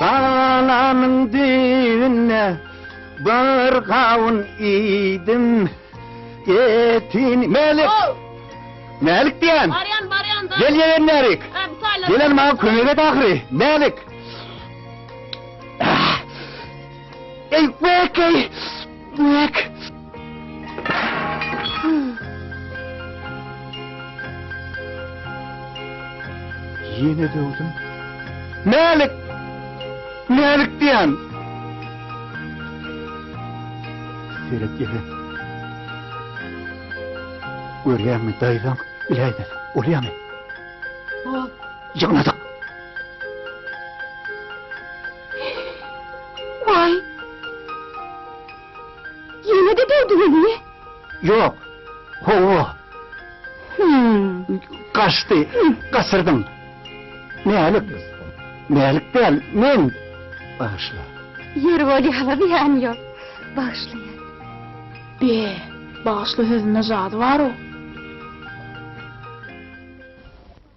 Dalamyň düýbünde bir gawun iýdim. Etin Melik. Melik diýen. Barýan, barýan. Gel ýegen Melik. Gelen maňa kömek et ahyry. Melik. Ey, bekey. Dik! Ýene döwdüm. Mälik! Mälik diýen! Seret ýere. Görýäňmi, daýzaň, iläýmez. Bolýamy? Ýygnadyk. Waý! Ýene-de degdiňizmi? Ýok. Hawa. Gaçdy. Gaçyrdym. Mälik. Mälik däl, men. Bagyşla. Ýeri bolýar-la, zyýany ýok. Bagyşlaýan. Be, bagyşla sözünde jady bar-ow.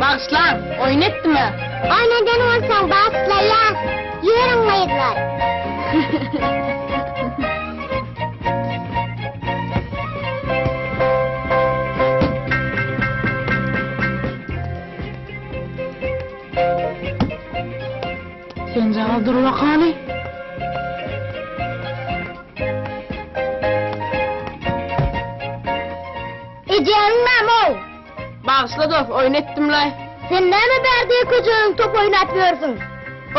Bagyşlaň, oýun etdimä. Oýun eden bolsaň bagyşlaýa. Ýörüň gyzlar. Senjagaz dur wakaly. Ejeňiň näme-ow? Bagyşla dos, oýun etdim-laý. Sen näme bär diýe köjäniň top oýnap ýörsüň?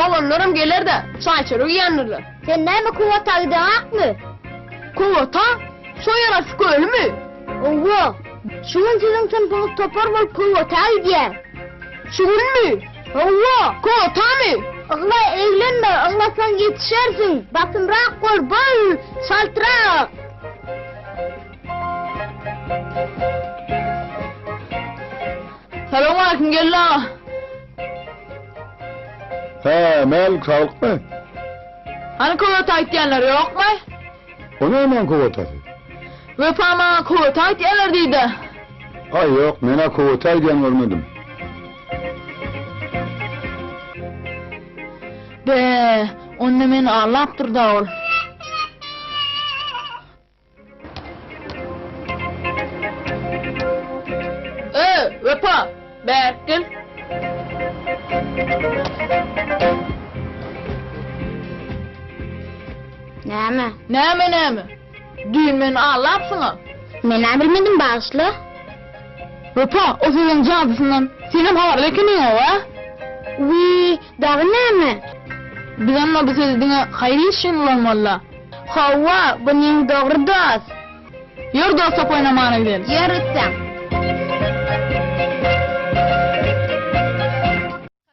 Oglanlaram geler-de, çaý-çörek iýendirler. Sen näme kuwwata gideňakmy? Kuwwata? Şo ýarasy kölümi? Owo. Şu gün siziň synpyňyz topar bolup kuwwata gidýär. Şu günmi? Hawa, kotamy? Ygla eglenme, yglasaň ýetişersiň. Basymrak bol, bol çaltrak. Salowmaleýkim, geldi aga. Hä, mälik, saglykmy? Hany köwete aýtýanlar ýokmy? O nämäň kowatasy? Wepa maňa kowata aýtýarlar diýdä. Aý ýok, men-ä kowata aýdýan görmedim. Be, onda meni aldapdyr-da ol. Öý, Wepa! Bäh, gel. Näme? Näme näme? Düýn meni aldapsyň-a. Men-ä bilmedim, bagyşla. Wepa, o sözüň jadysyndan senem habarly ekeniň-ow, a? Wiý, dagy näme? Biz onda bu sözi diňe haýyr iş üçin ulanmaly-da. Hawa, bu neň dogry dost. Ýör dos top oýnamana gideli. Ýör gitseň.